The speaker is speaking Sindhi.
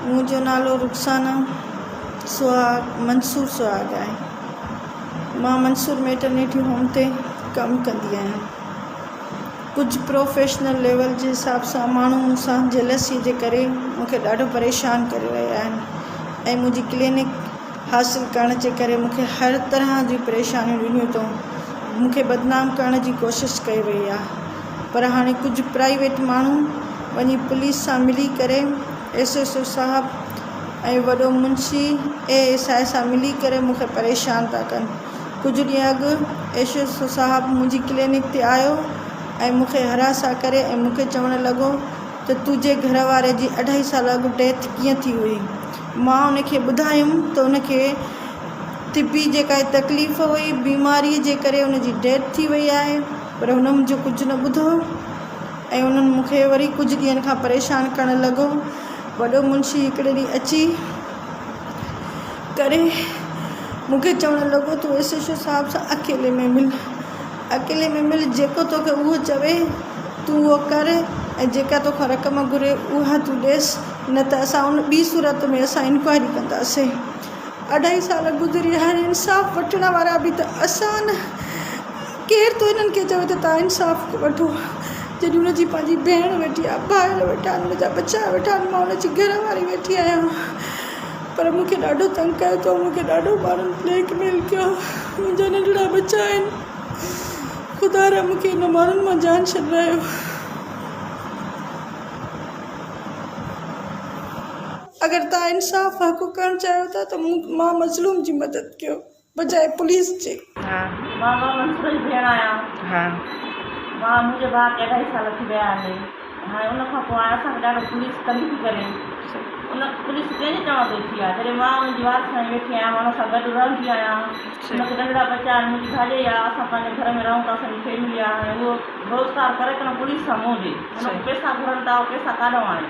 منهنجو نالو رخسانه سهاڳ منصور سهاڳ آهي. مان منصور ميٽرنيٽي هوم تي ڪم ڪندي آهيان. ڪجهه پروفيشنل ليول جي حساب سان ماڻهو مون سان جيلسيء جي ڪري مون کي ڏاڍو پريشان ڪري رهيا آهن ۽ منهنجي ڪلينڪ حاصل ڪرڻ جي ڪري مون کي هر طرح جون پريشانيون ڏنيون اٿئون. مون کي بدنام ڪرڻ جي ڪوشش ڪئي وئي آهي. پر هاڻي ڪجهه پرائيويٽ ماڻهو وڃي پوليس سان ملي ڪري ايس ايس او صاحب ۽ وڏو منشي اي ايس آء سان ملي ڪري مون کي پريشان ٿا ڪن ڪجهه ڏينهن اڳ ايس ايس او صاحب منهنجي ڪلينڪ تي آيو ۽ مون کي هراسان ڪري ۽ مون کي چوڻ لڳو ته تنهنجي گهر واري جي اڍائي سال اڳ ڊيٿ ڪيئن ٿي هئي مان ان کي ٻڌايم ته ان کي طبي جيڪا تڪليف هئي بيماري جي ڪري ان جي ڊيٿ ٿي وئي آهي پر هن منهنجو ڪجهه نه ٻڌو ۽ انهن مون کي وري ڪجهه ڏينهن کان پريشان ڪرڻ لڳو. وڏو منشي هڪڙي ڏينهن اچي ڪري مون کي چوڻ لڳو، تون ايس ايڇ او صاحب سان اڪيلي ۾ مل. اڪيلي ۾ مل، جيڪو توکي اهو چوي، تون اهو ڪر ۽ جيڪا توکان رقم گهري، اها تون ڏيس، نه ته اسان ان ٻي صورت ۾ اسان انڪوائري ڪنداسين. اڍائي سال گذري، هاڻي انصاف وٺڻ وارا به ته اسان. ڪير ٿو هنن کي چوي ته توهان انصاف وٺو جڏهن هن جي پنهنجي ڀيڻ ويٺي آهي ڀائر ويٺا آهن هن جا ٻچا ويٺا آهن مان هن جي گهر واري ويٺي آهيان پر مون کي ڏاڍو تنگ ڪيو اٿئون مون کي ڏاڍو ماڻهن بليڪ ميل ڪيو آهي منهنجا ننڍڙا ٻچا آهن خدا را مون کي هن ماڻهن مان جان ڇڏرايو. اگر توهان انصاف حق ڪرڻ چاهيو ٿا ته مان مظلوم جي مدد ڪيو. بجاء پوليس جي. ها مان مان منصوبي جي ڀيڻ آهيان ها مان منهنجي ڀاء کي اڍائي سال ٿي ويا آهن هاڻي ان کان پوء هاڻي اسان کي ڏاڍو پوليس تنگ ٿي ڪري ان پوليس ڪنهن جي چوڻ تي ٿي آهي جڏهن مان ان جي وارث ۾ ويٺي آهيان مان ان سان گڏ رهندي آهيان ان کي ننڍڙا ٻچا آهن منهنجي ڀاڄائي آهي اسان پنهنجي گهر ۾ رهون ٿا اسانجي فيملي آهي هاڻي اهو روزگار ڪري ڪنهن پوليس سان منهن ڏي ان کان پئسا گهرن ٿا اهو پئسا ڪاڏانهون آڻي.